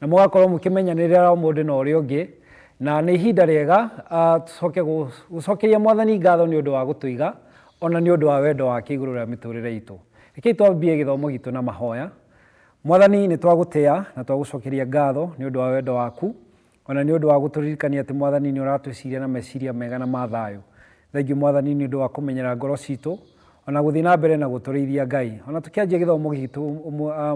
Na mũgakorwo mũkĩmenyanĩrĩra mũndũ na ũrĩa ũngĩ, na nĩ ihinda rĩega tũcoke gũcokeria Mwathani ngatho nĩ ũndũ wa gũtũiga, o na nĩ ũndũ wa wendo wake igũrũ rĩa mĩtũrĩre itũ. Rekei twambie gĩthomo gitũ na mahoya. Mwathani, nĩ twagũtĩa na twagũcokeria ngatho nĩ ũndũ wa wendo waku, o na nĩ ũndũ wa gũtũririkania atĩ Mwathani nĩ ũratwĩciria na meciria mega na ma thayũ. Thengiũ Mwathani nĩ ũndũ wa kũmenyera ngoro citũ ona gũthiĩ na mbere na gũtũrĩithia Ngai. Ona tũkĩanjia gĩthomo gitũ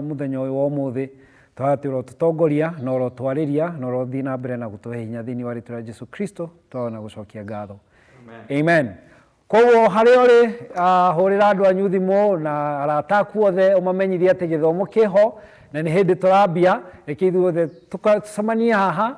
mũthenya ũyũ wa ũmũthĩ, tũhaya atĩ ũrotũtongoria na ũrotwarĩria na ũrothiĩ na mbere na gũtũhe hinya thĩinĩ wa rĩtwa rĩa Jesu Kristo tũhaya na gũcokia ngatho. Amen. Amen. Koguo harĩa ũrĩ uh, hũrĩra andũ anyu thimũ na arata aku othe ũmamenyithie atĩ gĩthomo kĩho na nĩ hĩndĩ tũrambia reke ithuothe tũcemanie haha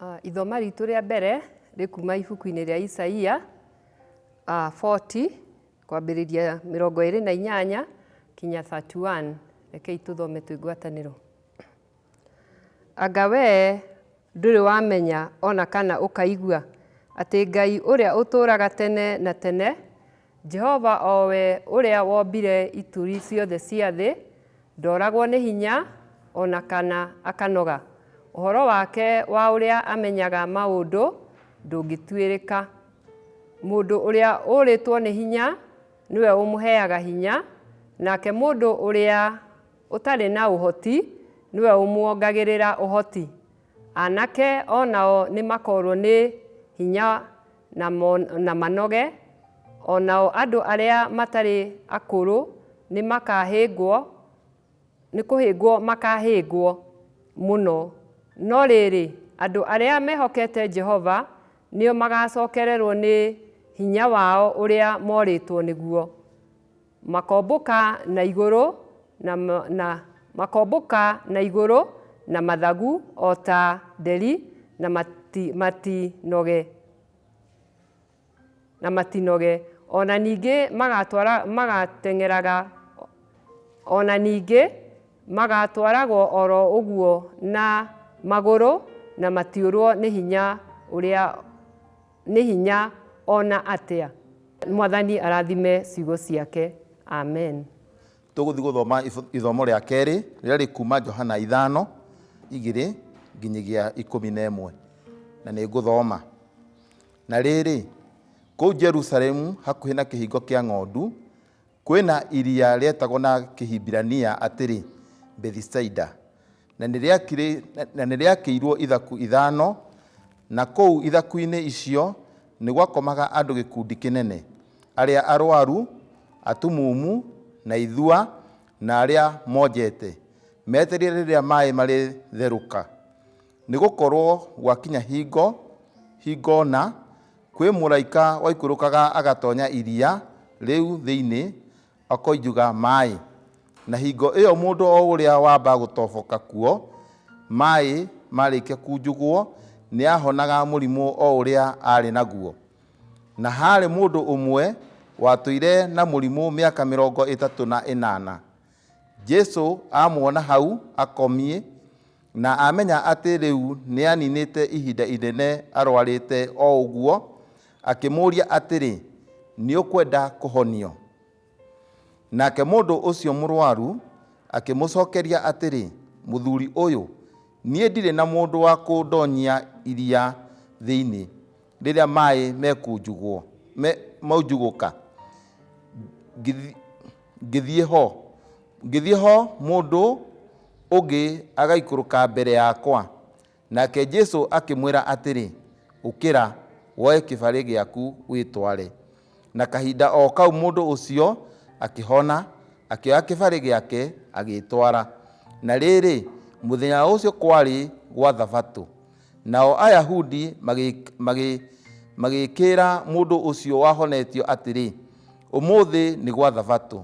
Uh, ithoma ritũ rĩa mbere rĩkuma ibuku-inĩ rĩa Isaia uh, 40 kwambĩrĩria mĩrongo ĩrĩ na inyanya kinya 31 rekei tũthome twĩ ngwatanĩro anga wee ndũrĩ wamenya ona kana ũkaigua atĩ ngai ũrĩa ũtũũraga tene na tene Jehova o we ũrĩa wombire ituri ciothe cia thĩ, ndooragwo nĩ hinya o na kana akanoga. Ũhoro wake wa ũrĩa amenyaga maũndũ ndũngĩtuĩrĩka. Mũndũ ũrĩa ũũrĩtwo nĩ hinya nĩwe ũmũheaga hinya, nake mũndũ ũrĩa ũtarĩ na ũhoti nĩwe ũmuongagĩrĩra ũhoti. Anake o nao nĩ makoorũo nĩ hinya na manoge, o nao andũ arĩa matarĩ akũrũ nĩ makaahĩngwo, nĩ kũhĩngwo makaahĩngwo mũno. No rĩrĩ, andũ arĩa mehokete Jehova nĩo magaacokererũo nĩ hinya wao ũrĩa moorĩtwo nĩguo. Makombũka na igũrũ na, na makombũka na igũrũ na mathagu o ta nderi na mati, matinoge, na matinoge. O na ningĩ magatwara, magateng'eraga, o na ningĩ magatwaragwo o ro ũguo na magũrũ na matiũrwo nĩ hinya ũrĩa. Nĩ hinya ona atĩa. Mwathani arathime ciugo ciake. Amen. Tũgũthiĩ gũthoma ithomo rĩa kerĩ rĩrĩa rĩkuma Johana ithano igĩrĩ nginyagia ikũmi na ĩmwe na nĩ ngũthoma. Na rĩrĩ, kũu Jerusalemu hakuhĩ na kĩhingo kĩa ng'ondu, Kwĩna iria rĩetagwo na Kĩhibirania atĩrĩ Bethisaida, na nĩrĩakĩirwo ithaku ithano, na kũu ithaku-inĩ icio nĩgwakomaga andũ gĩkundi kĩnene, arĩa arwaru, atumumu, na ithua, na arĩa monjete, metereire rĩrĩa maaĩ marĩtherũka, nĩgũkorwo gwakinya hingo, hingo na Kwĩ mũraika waikũrũkaga agatonya iria rĩu thĩinĩ akoinjuga maĩ, na hingo ĩyo mũndũ o ũrĩa wamba gũtoboka kuo maĩ marĩkia kunjugwo nĩahonaga mũrimũ o ũrĩa arĩ naguo. Na harĩ mũndũ ũmwe watũire na mũrimũ mĩaka mĩrongo ĩtatũ na ĩnana. Jesu amuona hau akomie na amenya atĩ rĩu nĩaninĩte ihinda inene arwarĩte o ũguo, akĩmũũria atĩrĩ, Nĩũkwenda kũhonio? Nake mũndũ ũcio mũrwaru akĩmũcokeria atĩrĩ, Mũthuri ũyũ, niĩ ndirĩ na mũndũ wa kũndonyia iria thĩinĩ rĩrĩa maĩ mekunjugwo, me, maunjugũka. Ngithi- ngĩthiĩ ho, ngĩthiĩ ho mũndũ ũngĩ agaikũrũka mbere yakwa. Nake Jesu akĩmwĩra atĩrĩ, Ũkĩra, woe kĩbarĩ gĩaku wĩtware. Na kahinda o kau mũndũ ũcio akĩhona, akĩoya kĩbarĩ gĩake agĩĩtwara. Na rĩrĩ, mũthenya ũcio kwarĩ gwa Thabatũ. Nao Ayahudi magĩkĩĩra mũndũ ũcio wahonetio atĩrĩ, Ũmũthĩ nĩ gwa Thabatũ,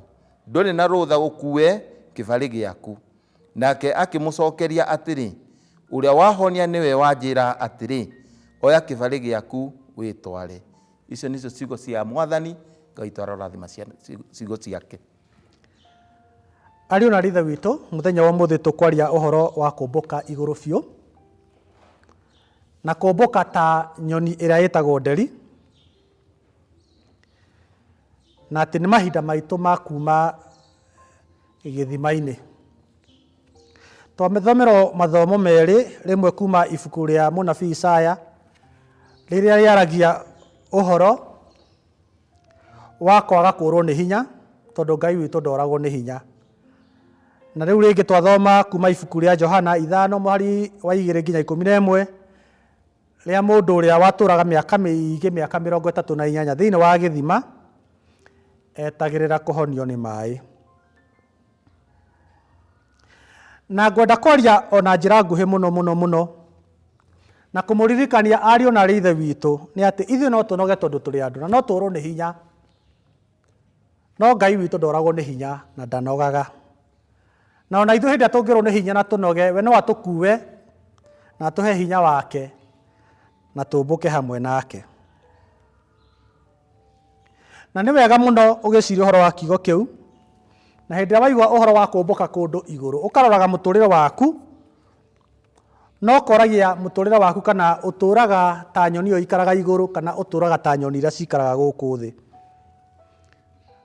ndũrĩ na rũtha ũkuue kĩbarĩ gĩaku. Nake akĩmũcookeria atĩrĩ, Ũrĩa wahonia nĩwe wanjĩĩra atĩrĩ, 'Oya kĩbarĩ gĩaku wĩtware. Icio nĩcio ciugo cia Mwathani. Ngai tũarorathima ciugo ciake. Ariũ na rithe witũ, mũthenya wa ũmũthĩ tũkwaria ũhoro wa kũmbũka igũrũ biũ, na kũmbũka ta nyoni ĩrĩa ĩtagwo nderi, na atĩ nĩ mahinda maitũ ma kuuma gĩthima-inĩ. Twathomerwo mathomo merĩ, rĩmwe kuuma ibuku rĩa mũnabii Isaya, rĩrĩa rĩaragia ũhoro. wa kwaga kũũrwo nĩ hinya, tondũ Ngai witũ ndooragwo nĩ hinya. Na rĩu rĩngĩ twathoma kuuma ibuku rĩa Johana ithano mũhari wa igĩrĩ nginya ikũmi na ĩmwe, rĩa mũndũ ũrĩa watũũraga mĩaka mĩingĩ, mĩaka mĩrongo ĩtatũ na inyanya thĩinĩ wa gĩthima, etagĩrĩra kũhonio nĩ maaĩ. Na ngwenda kwaria o na njĩra nguhĩ mũno mũno mũno na kũmũririkania ariũ na arĩ ithe witũ nĩ atĩ ithuĩ no tũnoge tondũ tũrĩ andũ na no tũũrwo nĩ hinya no Ngai witũ ndoragwo nĩ hinya na ndanogaga na ona ithuĩ hĩndĩ ĩrĩa tũngĩũrwo nĩ hinya na tũnoge we no atũkue na atũhe hinya wake na tũmbũke hamwe nake. Na nĩ wega mũno ũgĩciria ũhoro wa kiugo kĩu, na hĩndĩ ĩrĩa waigua ũhoro wa kũmbũka kũndũ igũrũ, ũkaroraga mũtũrĩre waku, na ũkoragia mũtũrĩre waku kana ũtũraga ta nyoni ĩyo ikaraga igũrũ kana ũtũraga ta nyoni iria cikaraga gũkũ thĩ.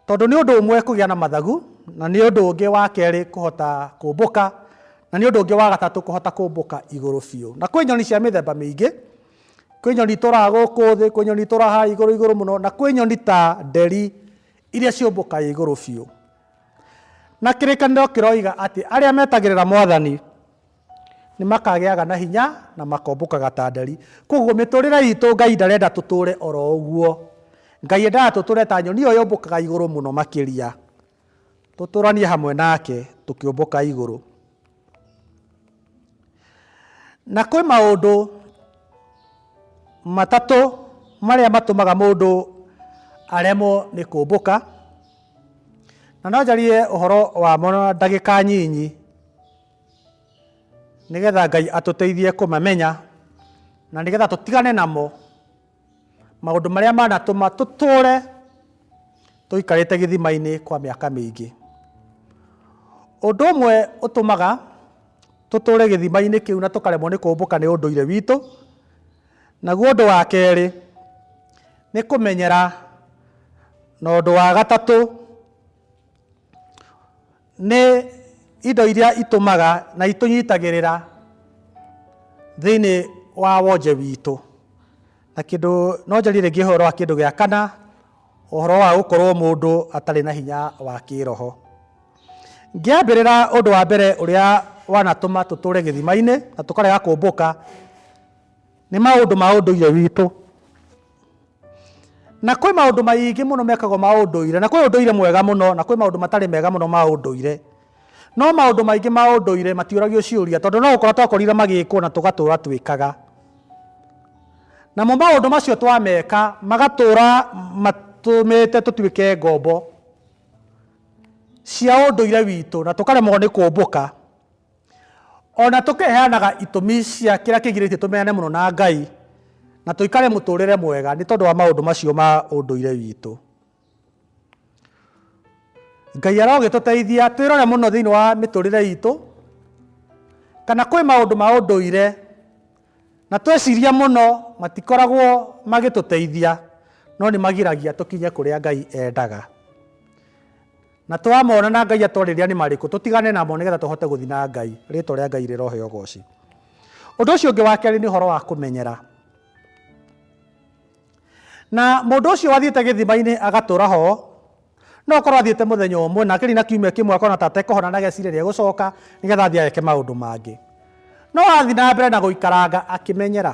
Tondũ nĩ ũndũ ũmwe kũgĩa na mathagu, na nĩ ũndũ ũngĩ wa kerĩ kũhota kũmbũka, na nĩ ũndũ ũngĩ wa gatatũ kũhota kũmbũka igũrũ biũ. Na kwĩ nyoni cia mĩthemba mĩingĩ. Kwĩ nyoni tũraa gũkũ thĩ, kwĩ nyoni tũraa haha igũrũ igũrũ mũno, na kwĩ nyoni ta nderi iria ciũmbũkaga igũrũ biũ. Na kĩrĩkanĩro kĩroiga atĩ arĩa metagĩrĩra Mwathani nĩ makagĩaga na hinya na makombũkaga ta nderi. Koguo mĩtũrĩre itũ Ngai ndarenda tũtũre oro ũguo. Ngai endaga tũtũre ta nyoni ĩyo yũmbũkaga igũrũ mũno makĩria. Tũtũũranie hamwe nake tũkĩũmbũka igũrũ. Na kwĩ maũndũ matatũ marĩa matũmaga mũndũ aremwo nĩ kũmbũka, na no njarie ũhoro wamo na ndagĩka nyinyi nĩgetha Ngai atũteithie kũmamenya na nĩgetha tũtigane namo Maũndũ marĩa manatũma tũtũũre tũikarĩte gĩthima-inĩ kwa mĩaka mĩingĩ. Ũndũ ũmwe ũtũmaga tũtũũre gĩthima-inĩ kĩu na tũkaremwo nĩ kũmbũka nĩ ũndũire witũ, naguo ũndũ wa kerĩ nĩ kũmenyera, na ũndũ wa gatatũ Nĩ indo iria itũmaga na itũnyitagĩrĩra thĩinĩ wa wonje witũ. Na kĩndũ no njarie rĩngĩ ũhoro wa kĩndũ gĩa kana, ũhoro wa gũkorwo mũndũ atarĩ na hinya wa kĩĩroho. Ngĩambĩrĩra ũndũ wa mbere ũrĩa wanatũma tũtũũre gĩthima-inĩ na tũkarega kũmbũka, nĩ maũndũ ma ũndũire witũ. Na kwĩ maũndũ maingĩ mũno mekagwo ma ũndũire, na kwĩ ũndũire mwega mũno, na kwĩ maũndũ matarĩ mega mũno ma ũndũire. No maũndũ maingĩ ma ũndũire matiũragio ciũria, tondũ no gũkora twakorire magĩkwo na tũgatũra twĩkaga. Namo maũndũ macio twameka magatũra matũmĩte tũtuĩke ngombo cia ũndũire witũ na tũkaremwo nĩ kũmbũka. O na tũkĩheanaga itũmi cia kĩrĩa kĩgirĩtie tũmenyane mũno na Ngai na tũikare mũtũũrĩre mwega nĩ tondũ wa maũndũ macio ma ũndũire witũ. Ngai arogĩtũteithia twĩrore mũno thĩinĩ wa mĩtũũrĩre itũ kana kwĩ maũndũ ma ũndũire na tweciria mũno matikoragwo magĩtũteithia no nĩ magiragia tũkinye kũrĩa Ngai endaga. Na twamona na Ngai atwarĩria nĩ marĩkũ, tũtigane namo nĩ getha tũhote gũthiĩ na Ngai. Rĩĩtwa rĩa Ngai rĩroheo ũgooci. Ũndũ ũcio ũngĩ wa kerĩ nĩ ũhoro wa kũmenyera. Na mũndũ ũcio wathiĩte gĩthima-inĩ agatũra ho, no akorwo athiĩte mũthenya ũmwe na akĩrĩ na kiumia kĩmwe akona ta atekũhona na ageciria nĩ egũcoka nĩ getha athiĩ ageke maũndũ mangĩ. No athiĩ na mbere na gũikaranga akĩmenyera.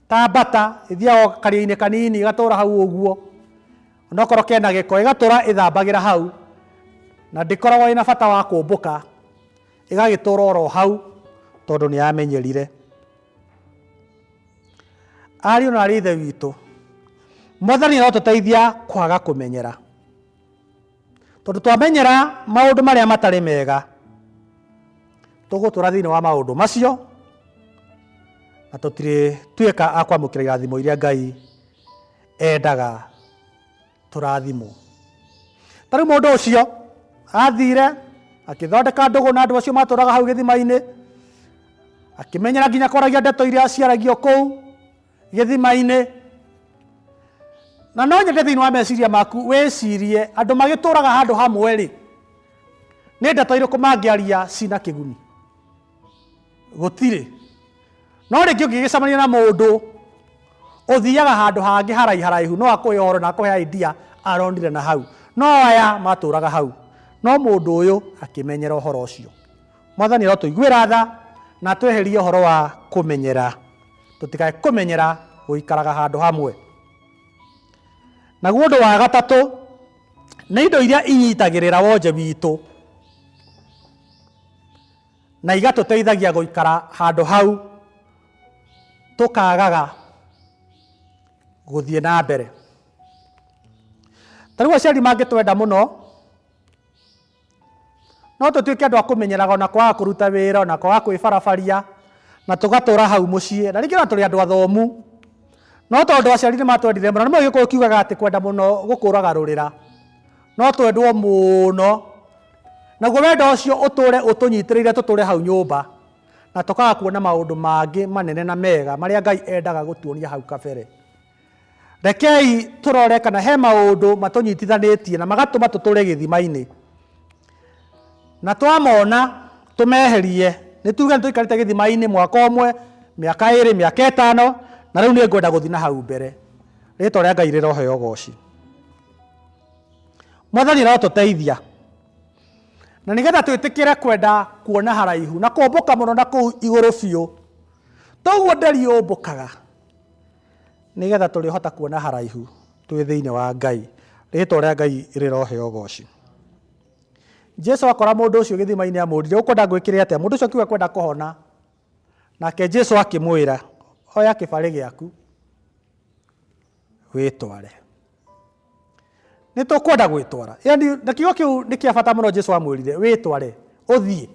Ta mbata ĩthiaga o karia-inĩ kanini ĩgatũra hau ũguo onokorwo kena gĩko ĩgatũra ĩthambagĩra hau na ndĩkoragwo ĩna bata wa kũmbũka ĩgagĩtũra oro hau tondũ nĩ yamenyerire. Ariũ na aarĩ a Ithe witũ, Mwathani arotũteithia kwaga kũmenyera. tondũ twamenyera maũndũ marĩa matarĩ mega tũgũtũra thĩinĩ wa maũndũ macio na tũtirĩ tuĩka a kwamũkĩra irathimo iria ngai endaga tũrathimwo ta rĩu mũndũ ũcio athire akĩthondeka ndũgũ na andũ acio matũraga hau gĩthima-inĩ akĩmenyera nginya kwaragia ndeto iria ciaragio kũu gĩthima-inĩ na no nyende thĩinĩ wa meciria maku wĩcirie andũ magĩtũraga handũ hamwe rĩ nĩ ndeto irĩkũ mangĩaria cina kĩguni gũtirĩ no rĩngĩ ũngĩgĩcemania na mũndũ ũthiaga handũ hangĩ haraiha haraihu no akũhe ũhoro na akũhe idea aronire na hau no aya matũraga hau no mũndũ ũyũ akĩmenyera ũhoro ũcio mwathani arotũiguĩra tha na tweherie ũhoro wa kũmenyera tũtikae kũmenyera gũikaraga handũ hamwe naguo ũndũ wa gatatũ nĩ indo iria inyitagĩrĩra wonje witũ na igatũteithagia gũikara handũ hau tũkagaga gũthiĩ na mbere tarĩu aciari mangĩtwenda mũno no tũtuĩke andũ a kũmenyeraga ona kwaga kũruta wĩra ona kwaga kwĩbarabaria na tũgatũra hau mũciĩ na rĩngĩ ona tũrĩ andũ athomu no tondũ aciari nĩ matwendire mũno nĩ mũgĩkũyũ kiugaga atĩ kwenda mũno gũkũraga rũrĩra no twendwo mũno naguo wendo ũcio ũtũre ũtũnyitĩrĩire tũtũre hau nyũmba na tũkaga kuona maũndũ mangĩ manene na mega marĩa ngai endaga gũtuonia hau kabere Rekei tũrore kana he maũndũ matũnyitithanĩtie na magatũma tũtũre gĩthima-inĩ. Na twamona tũmeherie, nĩ tuge nĩ tũikarĩte gĩthima-inĩ mwaka ũmwe, mĩaka ĩrĩ, mĩaka ĩtano, na rĩu nĩ ngwenda gũthiĩ na hau mbere. Rĩtwa rĩa Ngai rĩroheo ũgooci. Mwathani arotũteithia na nĩgetha twĩtĩkĩre kwenda kuona haraihu na kũmbũka mũno na kũu igũrũ biũ, toguo nderi yũmbũkaga. Nĩ getha tũrĩhota kuona haraihu twĩ thĩinĩ wa Ngai, rĩtwa rĩa Ngai rĩroheo ũgooci. Jesu akora mũndũ ũcio gĩthima-inĩ amũrire, ũkwenda ngwĩkĩre atĩa? Mũndũ ũcio akiuga kwenda kũhona. Nake Jesu akĩmwĩra, oya kĩbarĩ gĩaku wĩtware. Nĩ tũkwenda gwĩtwara. Yaani na kiugo kĩu nĩ kĩa bata mũno Jesu amwĩrire, wĩtware, ũthiĩ.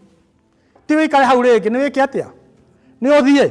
Ti wĩikare hau rĩngĩ, nĩ wĩke atĩa? Nĩ ũthiĩ.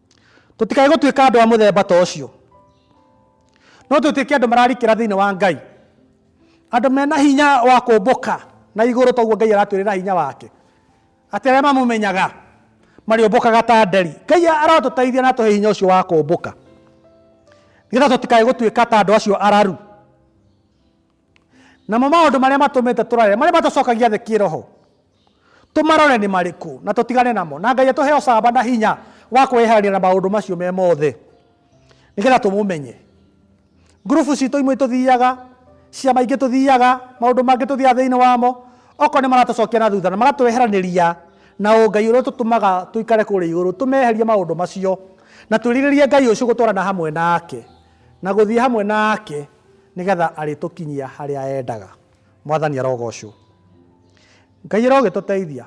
Tũtikae gũtuĩka andũ a mũthemba ta ũcio. No tũtuĩke andũ mararikĩra thĩinĩ wa Ngai. Andũ mena hinya wa kũmbũka na igũrũ toguo Ngai aratwĩrĩra hinya wake. Atĩ arĩa mamũmenyaga marĩũmbũkaga ta nderi. Ngai arotũteithia na atũhe hinya ũcio wa kũmbũka. Nĩgetha tũtikae gũtuĩka ta andũ acio araru. Namo maũndũ marĩa matũmĩte tũrare, marĩa matũcokagia thĩ kĩĩroho, tũmarore nĩ marĩkũ na tũtigane namo, na Ngai atũhe ũcamba na hinya wa kwĩyeherania na maũndũ macio me mothe nĩgetha tũmũmenye. Ngurubu citũ imwe itũthiaga, ciama ingĩ tũthiaga, maũndũ mangĩ tũthiaga thĩinĩ wamo, okorwo nĩ maratũcokia na thutha na magatweheranĩria na ũngai ũrĩa ũtũtũmaga tũikare kũrĩa igũrũ, tũmeherie maũndũ macio na twĩrirĩrie Ngai ũcio gũtwarana hamwe nake na gũthiĩ hamwe nake. Nĩgetha arĩtũkinyia harĩa endaga. Mwathani arogocwo. Ngai arogĩtũteithia.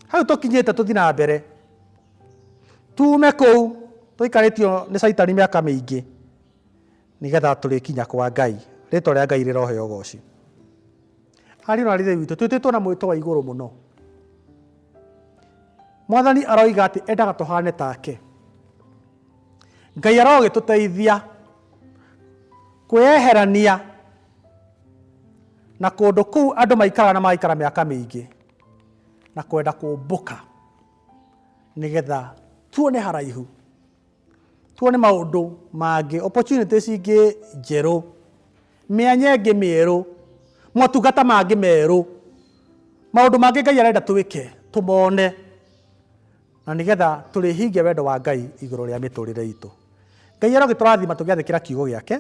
Hau tũkinyĩte tũthi na mbere. Tume kũu tũikarĩtio nĩ caitani mĩaka mĩingĩ. Nĩgetha tũrĩkinya kwa Ngai. Rĩtwa rĩa Ngai rĩroheo ũgoci. Ariũ na arĩrĩ witũ, twĩtĩtwo na mwĩto wa igũrũ mũno. Mwathani aroiga atĩ endaga tũhane take. ngai arogĩtũteithia kwĩyeherania na kũndũ kũu andũ maikaraga na magaikara mĩaka mĩingĩ na kwenda kũmbũka nĩgetha tuone haraihu tuone maũndũ mangĩ opportunities ingĩ njerũ mĩanya ĩngĩ mĩerũ motungata mangĩ merũ maũndũ mangĩ ngai arenda twĩke tũmone Na nĩ getha tũrĩhingie wendo wa Ngai igũrũ rĩa mĩtũrĩre itũ. Ngai arogĩtũrathima tũgĩathĩkĩra kiugo gĩake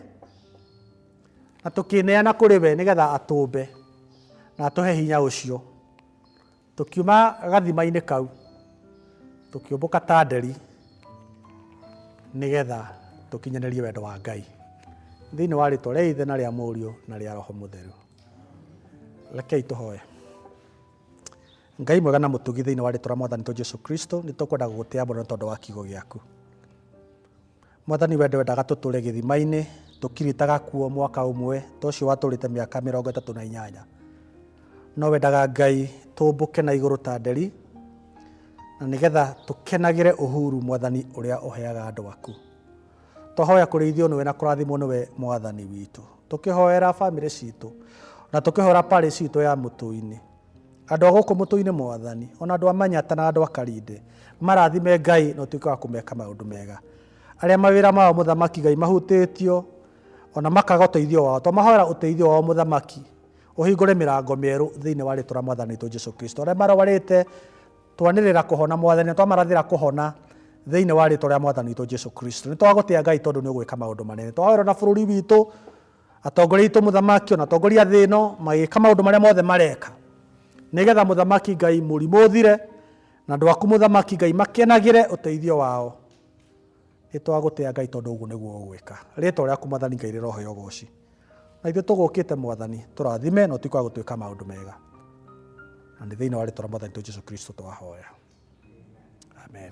na tũkĩneana kũrĩ we nĩ getha atũmbe na atũhe hinya ũcio. Tũkiuma gathima-inĩ kau, tũkĩũmbũka ta nderi nĩ getha tũkinyanĩrie wendo wa Ngai thĩinĩ wa rĩtwa rĩa Ithe na rĩa Mũriũ na rĩa Roho Mũtheru. Rekei tũhoe. Ngai mwega na mũtugi thĩinĩ wa rĩtwa rĩa mwathani to Jesu Kristo nĩ tũkwenda gũgũtĩa mũno tondũ wa kiugo gĩaku. Mwathani wende wendaga tũtũre gĩthima-inĩ tũkirĩtaga kuo mwaka ũmwe ta ũcio watũrĩte mĩaka mĩrongo ĩtatũ na inyanya. No wendaga Ngai tũmbũke na igũrũ ta nderi na nĩgetha tũkenagĩre ũhuru mwathani ũrĩa ũheaga andũ aku. Twahoya kũrĩithio nĩwe na kũrathimwo nĩwe mwathani witũ. Tũkĩhoera bamĩrĩ citũ na tũkĩhoera parish itũ ya Mũtũinĩ. Andũ a gũkũ Mũtũinĩ mwathani, ona andũ a Manyata na andũ a Karinde, marathime Ngai na ũtuĩke wa kũmeka maũndũ mega. Arĩa mawĩra mao mũthamaki Ngai mahutĩtio ona makaga ũteithio wao, twamahoera ũteithio wao mũthamaki, ũhingũre mĩrango mĩerũ thĩinĩ wa rĩtwa rĩa mwathani witũ Jesu Kristo. Arĩa marwarĩte Twanĩrĩra kũhona, Mwathani, na twamarathĩra kũhona thĩinĩ wa rĩtwa rĩa Mwathani witũ Jesu Kristo. Nĩ twagũtĩa Ngai tondũ nĩ ũgwĩka maũndũ manene. Twahoera na bũrũri witũ, atongoria itũ mũthamaki, ona atongoria thĩ ĩno, magĩka maũndũ marĩa mothe mareka. Nĩgetha mũthamaki Ngai mũrimũ ũthire, na andũ aku mũthamaki Ngai makenagĩre ũteithio wao. Nĩ twagũtĩa Ngai tondũ ũguo nĩguo ũgwĩka. Rĩtwa rĩaku Mwathani Ngai rĩroheo ũgooci. Na ithuĩ tũgũkĩte Mwathani, tũrathime na ũtuĩke wa gũtwĩka maũndũ mega. Na nĩ thĩinĩ wa rĩtwa rĩa Mwathani tu Jesu Kristo twahoya. Amen.